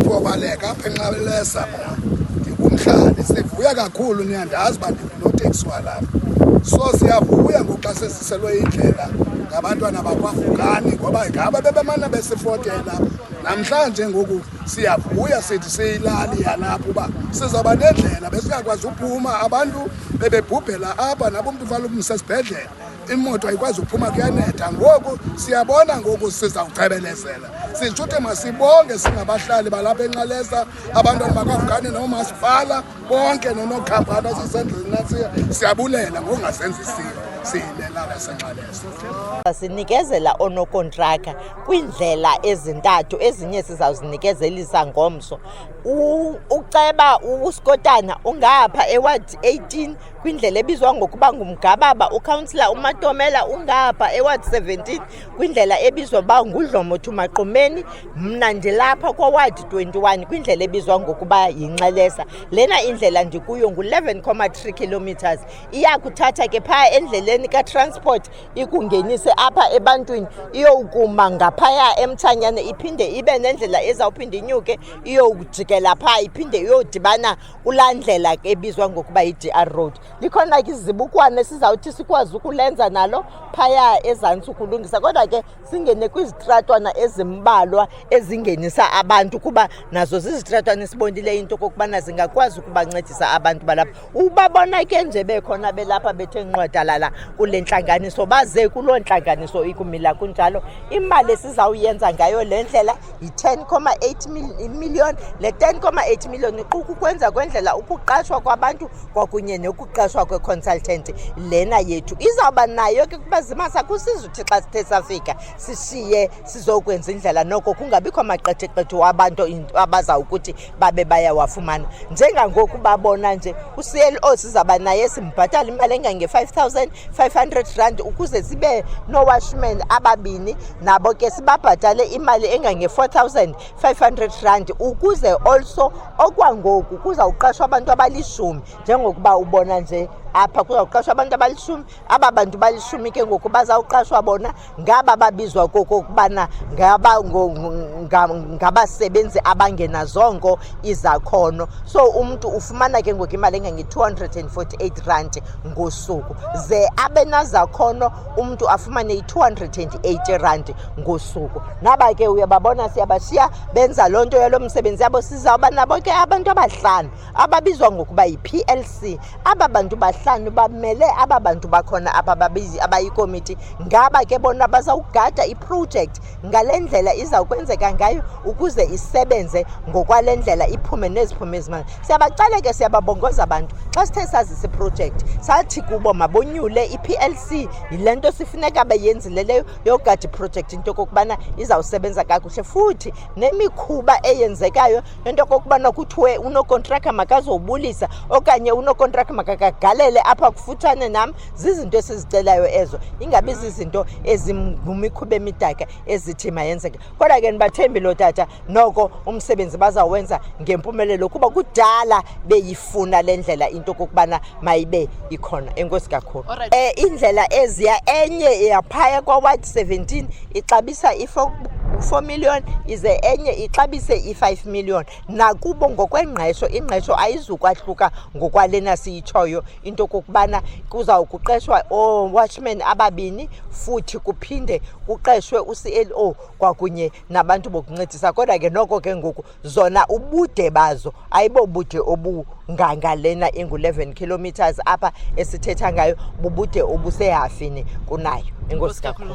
Kubaleka apha enxabelesa mna ndikumhlali sivuya kakhulu niyandazi uba ndinoteksi walapha so siyavuya ngoxa sesiselwe indlela ngabantwana bakwavukani ngoba ngaba bebemane besifotela namhlanje ngoku siyavuya sithi siyilali yalapha uba sizawuba nendlela besingakwazi uphuma abantu bebebhubhela apha nabomntu ufana umntu sesibhedlela imoto ayikwazi uphuma kuyanetha ngoku siyabona ngoku sizawucebelezela sitsho ukuthi masibonge singabahlali balapha enxalesa abantwana bakafukane noomasipala bonke nonokhampani asisendlini nasiya siyabulela ngokungasenzisiyo siyilelala senxalesa sinikezela onokontraka kwiindlela ezintathu ezinye sizawuzinikezelisa ngomso uceba uskotana ungapha ewadi 18 kwindlela ebizwa ngokuba ngumgababa ukhansila umatomela ungapha eward 17 kwindlela ebizwa uba ngudlomothi maqumeni mna ndilapha kwaward 21 kwindlela ebizwa ngokuba yinxelesa lena indlela ndikuyo ngu-11,3 kilometers iyakuthatha ke phaa endleleni katransport ikungenise apha ebantwini iyowukuma ngaphaya emthanyane iphinde ibe nendlela ezawuphinde inyuke iyowujikela phaa iphinde iyodibana kulaa ndlela ke ebizwa ngokuba yi-dr road likhona ke izibukwana esizawuthi sikwazi ukulenza nalo phaya ezantsi ukulungisa kodwa ke singene kwizitratwana ezimbalwa ezingenisa abantu kuba nazo zizitratwana esibonileyo into okokubana zingakwazi ukubancedisa abantu balapha ubabona ke nje bekhona belapha bethe nqwadalala kule ntlanganiso baze kuloo ntlanganiso ikumila kunjalo imali esizawuyenza ngayo le ndlela yi-10,8 million le 10,8 million iquka ukwenza kwendlela ukuqashwa kwabantu kwakunye nokuqashwa kweconsultant lena yethu izawuba nayo ke kuba zimasa kusizuthi xa sithe safika sishiye sizokwenza indlela noko kungabikho maqetheqethe wabantu abazawukuthi babe bayawafumana njengangoku babona nje uclo sizawuba naye simbhatala imali engange-5 000 500 rand ukuze sibe nowashman ababini nabo ke sibabhatale imali engange-4500 rand ukuze also okwangoku kuzawuqashwa abantu abalishumi njengokuba ubona nje apha kuzawuqashwa abantu abalishumi aba bantu balishumi ke ngoku bazawuqashwa bona ngaba babizwa kokokubana ngabasebenzi abangenazongo izakhono so umntu ufumana ke ngoku imali engange-248 rand ngosuku ze abenazakhono umntu afumane i-280 rand ngosuku ngaba ke uyababona siyabashiya benza loo nto yalo msebenzi yabo sizawuba nabo ke abantu abahlanu ababizwa ngokuba yi-plc aba bantu bahlanu bamele aba bantu bakhona apha babizi abayikomiti ngaba ke bona bazawugada iprojekthi ngale ndlela izawukwenzeka ngayo ukuze isebenze ngokwale ndlela iphume neziphume izimali siyabacale ke siyababongoza abantu xa sithe sazisa iprojekthi sathi kubo mabonyule i-plc yile nto sifuneka beyenzile leyo yogada iprojekthi into yokokubana izawusebenza kakuhle futhi nemikhuba eyenzekayo into okokubana kuthiwe unokontraka makazobulisa okanye unokontraka makakagalele apha kufutshane nam zizinto esizicelayo ezo ingabi zizinto ezingumikhuba emidaka ezithi mayenzeke kodwa ke ndibathembi loo tata noko umsebenzi bazawenza ngempumelelo kuba kudala beyifuna le ndlela into okokubana mayibe ikhona enkosi kakhulu um indlela eziya enye yaphaya kwawadi 17 ixabisa i-4 million ize enye ixabise i-5 million nakubo ngokwengqesho ingqesho ayizukwahluka ngokwalena siyitshoyo into kokubana kuzawukuqeshwa oowatchmen ababini futhi kuphinde kuqeshwe u-clo kwakunye nabantu bokuncedisa kodwa ke noko ke ngoku zona ubude bazo ayibobude obunganga lena ingu-11 kilometers apha esithetha ngayo bubude obusehafini kunayo enkosi kakhulu